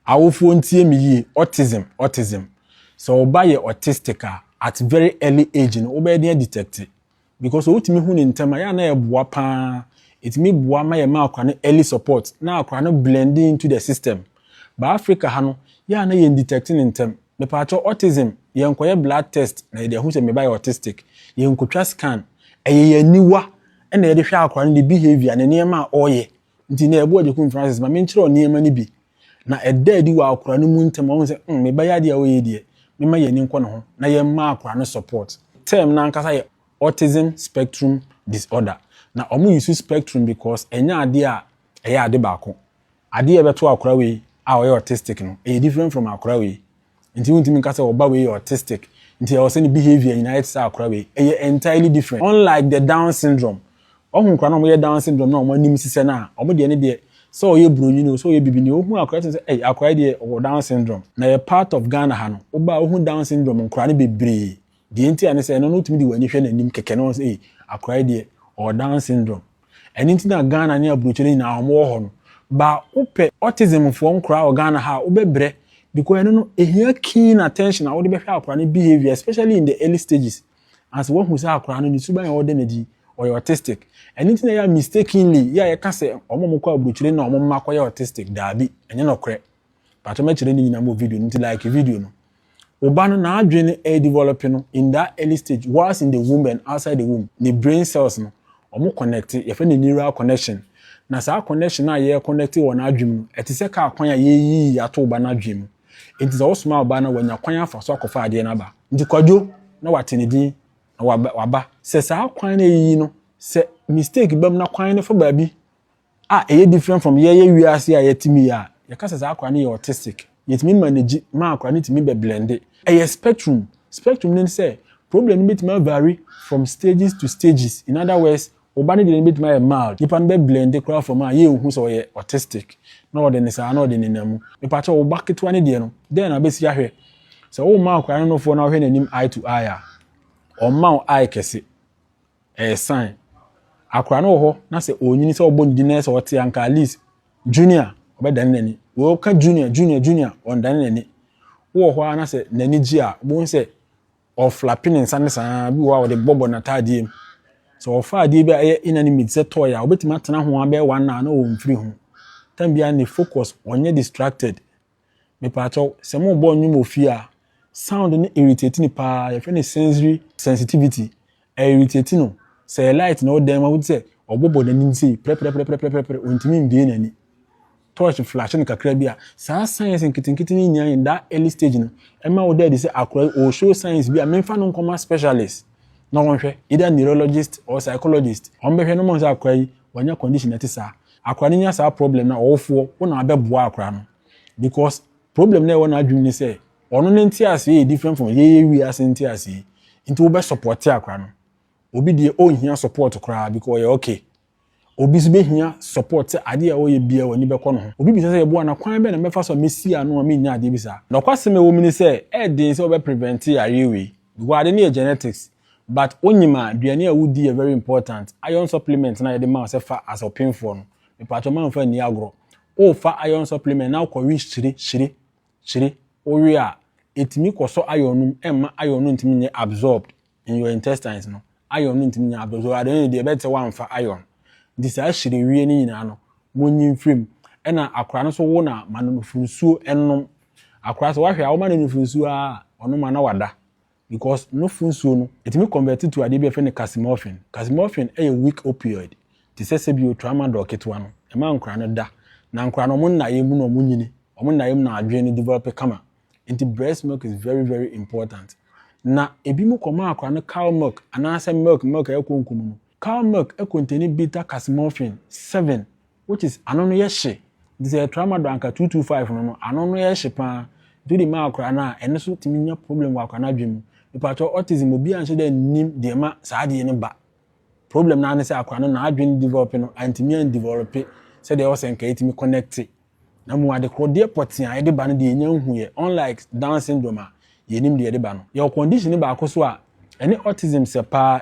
Awofoɔ ntie me yie, autism, autism, sɛ wo ba yɛ autistic a, at very early age no wobɛyɛ den adetecte because sɛ wotumi hu no ntɛm a ɛyɛ a na ɛboa pa ara, ɛtumi boa ma yɛma akora no early support na akora no blend in into the system but Africa ha no yɛ a na yɛn detecte no ntɛm. Mepaakyɛw autism yɛnkɔyɛ blood test na yɛde ahu sɛ me ba yɛ autistic, yɛnkotwa scan, ɛyɛ yɛn aniwa na yɛde hwɛ akora no ne behaviour ne nneɛma a ɔreyɛ Nti na ɛboa Jacqueline Francis ma menkyerɛw nneɛma no bi. Na ɛda adi wɔ akora no mu ntɛm a, ɔhu sɛ, hmm, me ba yi ade a ɔreyɛ yi deɛ, memma yɛn ani nkɔ ne ho na yɛmma akora no support. Term no ankasa yɛ Autism Spectrum Disorder. Na wɔn use spectrum because ɛnyɛ adeɛ a ɛyɛ ade baako. Adeɛ a ɛbɛto akora wei a ɔyɛ autistic no, ɛyɛ different from akora wei. Nti wontumi nka sɛ ɔba wei yɛ autistic nti ɛwɔ sɛ ne behaviour nyinaa yɛ te sɛ akora wei. Ɛyɛ entirely different. Unlike the down syndrome, wahu nkora no a wɔyɛ down syndrome no a wɔn anim sisɛ no a, wɔn deɛ ne deɛ sɛ ɔyɛ broni no o, sɛ ɔyɛ bibini o, wohu akora tumi sɛ ei akora yi deɛ ɔwɔ down syndrome. Na yɛ part of Ghana ha no, woba a wohu down syndrome nkora no bebree. Deɛ nti a ne sɛ, ɛno no wotumi de w'ani hwɛ n'anim kɛkɛ na wɔn sɛ, ei, akora yi deɛ, ɔwɔ Down syndrome. Ɛno nti na Ghana ne aburokyire nyinaa wɔn wɔ hɔ no. Ba wopɛ autism foɔ nkora wɔ Ghana ha a, wobɛbrɛ because ɛno no, ɛhia keen attention a wode bɛhwɛ akora no behaviour especially in the early stages. Ansa wahu sɛ akora no ne suban a ɛwɔ dɛ no adi, ɔyɛ autistic. Ɛno nti na ɛyɛ a mistakenly yɛ a yɛka sɛ wɔn a wɔkɔ aburokyire no na wɔn mma kɔyɛ autistic. Daabi, ɛnyɛ nɔkorɛ. Patro mɛkyerɛ ne nyinaa mu wɔ video no nti like video no. Wo ba no n'adwene no ɛredivɔlɔpe no in that early stage whilst in the womb and outside the womb, ne brain cells no wɔn kɔnɛkte, yɛfrɛ no neural connection, na saa connection no a yɛrekɔnɛkte wɔ n'adwene mu no ɛte sɛ kaa kwan a yɛreyiyi ato wo ba n'adwene mu. Nti sɛ wosoma wo ba no a wanya kwan afa so akɔfa adeɛ no aba. Nti Kwadwo na wate ne din na waba. Sɛ saa kwan no a yɛreyiyi no sɛ mistake ba mu na kwan no fa baabi a ɛyɛ different from yɛyɛ wiase a yɛte mu yi a, yɛka sɛ saa akwadaa no yɛ autistic. Yɛtumi manage ma akwadaa no tumi bɛ blende. Ɛyɛ spectrum. Spectrum no ne sɛ, problem no bɛtumi avari from stages to stages. In other words, wo ba no deɛ no bɛtumi ayɛ mild. Nnipa no bɛ blende koraa from a yɛnhu sɛ ɔyɛ autistic na ɔde no saa na ɔde nenam mu. Mepakyɛw, wo ba ketewa no deɛ no, dɛn na wobɛsi ahwɛ? Sɛ woma akwadaa no nofoɔ na wohwɛ n'anim eye to eye a, ɔmma wo eye kɛse. ɛyɛ sign akora no wɔ hɔ na sɛ ɔnyini sɛ ɔbɔ ne din na sɛ ɔte anka at least junior ɔbɛdane n'ani wɔka junior junior junior ɔndane n'ani wɔ hɔ a na sɛ n'ani gye a wobɛhu sɛ ɔflape ne nsa ne saa bi wɔ a ɔde bɔbɔ n'ataadeɛ mu sɛ ɔfa adeɛ bi a ɛyɛ inanimate sɛ tɔɔyɛ a wobɛtumi atena ho abɛyɛ one na na ɔmfiri ho tam biara ne focus ɔnyɛ distracted Mepakyɛw, sɛ morebɔ nnwom wɔ fie a, sound no irritate no paa, yɛfrɛ no sensory sensitivity, ɛ irritate no. Sɛ ɛyɛ light na ɛwɔ dan mu a, wote sɛ ɔbɔbɔ n'anim sei, prɛprɛprɛprɛprɛprɛ, ontumi mbue n'ani. Torch flash no kakra bi a, saa signs nketenkete no nyinaa in that early stage no, ɛma woda adi sɛ akora yi ɔɔ show signs bi a memfa no nkɔma specialist na wɔnhwɛ, either neurologist or psychologist. Wɔbɛhwɛ na wɔahu sɛ akora yi, wanya condition a ɛte saa. Akora no nya saa problem no a ɔwofoɔ wo na wabɛ boa akora no because problem no a ɛwɔ n'adwene mu ne sɛ ɔno ne nteaseɛ yɛ different from yɛyɛ wiase nteaseɛ nti wobɛ support akora no obi deɛ ɔnhia support koraa because ɔyɛ okay obi so bɛhia support sɛ adeɛ a ɔyɛ bia w'ani bɛkɔ no ho obi bisa sɛ yɛboa na kwan bɛ na mɛfa so a mɛsi ano a mennya adeɛ bi saa nɔkwasɛm a ɛwɔ mu ne sɛ ɛyɛ den sɛ wobɛ prevent yareɛ wei because ade no yɛ genetics But wonyim a aduane a wodi yɛ very important, iron supplement no a yɛde ma wo sɛ fa as ɔpemfoɔ no, mepatwɔ ma mfa nni agorɔ. Wo fa iron supplement na wokɔ we hyire, hyire, hyire, wo we a, ɛtumi kɔ sɔ iron no mu ɛmma iron no ntumi nyɛ absorbed in your intestines no, iron no ntumi nyɛ absorbed, so at the end of the day ɛbɛte sɛ woamfa iron. Nti saa hyire wie no nyinaa no monyi mfiri mu. Ɛna akora no nso wo na ma no nufuo nsuo ɛnnom. Akora sɛ woahwɛ a woma no nufuo nsuo ara a, ɔnom a na wada. because no fo nsuo no ɛtumi convert to adeɛ bi a yɛfrɛ no casimorphin. Casimorphin yɛ weak opioid te sɛ sɛbio tramadol ketewa no. Ɛma nkwadaa no da. Na nkwadaa no wɔn nnaeɛ mu na wɔnyini. Wɔn nnaeɛ mu na adwene no develop kama. Nti breast milk is very very important. Na ebinom kɔmaa akwadaa no cow milk anaasɛ milk milk a ɛyɛ konko mu no. Cow milk contain bitter casimorphin seven. which is ano no yɛ hye nti sɛ tramadol anka two two five no no ano no yɛ hye paa nti wode ma akwadaa no a ɛno so tumi nya problem wɔ akwadaa no adwene mu mepatwɛ autism obi anhyɛ dɛ nnim deɛ ma saa adeɛ no ba problem naa ne sɛ akwadaa no n'adwene develop no antumi andevelop sɛdeɛ ɛwɔ sɛ nka ɛtumi connect na mu ade korɔdeɛ pɔtee a ɛde ba no deɛ ɛnya nhu yɛ unlike down syndrome a yɛnim deɛ ɛde ba no yɛwɔ condition baako so a ɛne autism sɛ paa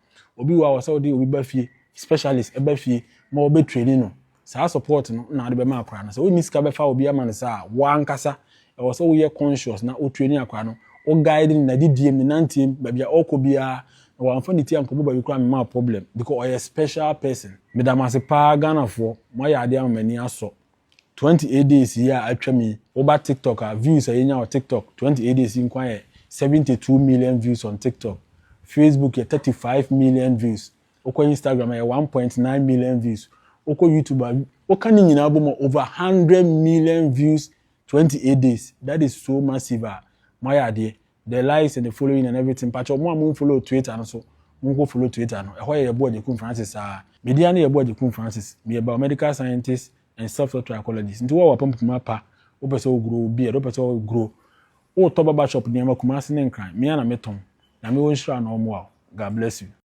Obi wɔ hɔ a ɔsɛ wode obi ba fie, specialist ɛba fie ma ɔbɛ traini no. Saa support no na wode bɛma akwadaa no. Sɛ wonni sika bɛfa obi ama no saa a, wo ankasa ɛwɔ sɛ woyɛ conscious na wo traini akwadaa no, wo guide no n'adidie mu, ne nanteɛ mu, baabi a ɔrekɔ biara, na wamfa ne ti ankɔbɔ baabi koraa a mema wo problem because ɔyɛ special person. Meda mo ase paa Ghanafoɔ, moayɛ adeɛ ama m'ani asɔ. Twenty eight days yi a atwam yi woba tiktok a views a yɛnya wɔ tiktok twenty eight days yi nko ara yɛ seventy two million views on tiktok, facebook yɛ thirty five million views, wokɔ instagram a ɛyɛ one point nine million views, wokɔ youtube a woka ne nyinaa bom a over hundred million views twenty eight days that is so massive a moayɛ adeɛ the likes and the following and everything mpakyɛ ɔmo a mo nfollow twitter no so mo nkɔ follow twitter no ɛhɔ yɛ yɛboa gyekun francis saa media ne yɛboa gyekun francis meyɛ biomedical scientist and self taught trichologist nti wo a wapam puma pa wopɛ sɛ woguro wo beard wopɛ sɛ woguro wotɔ baba shop nneɛma kumase ne nkran mea na metɔn nyame wɔ nhyira na ɔmoa wo god bless you.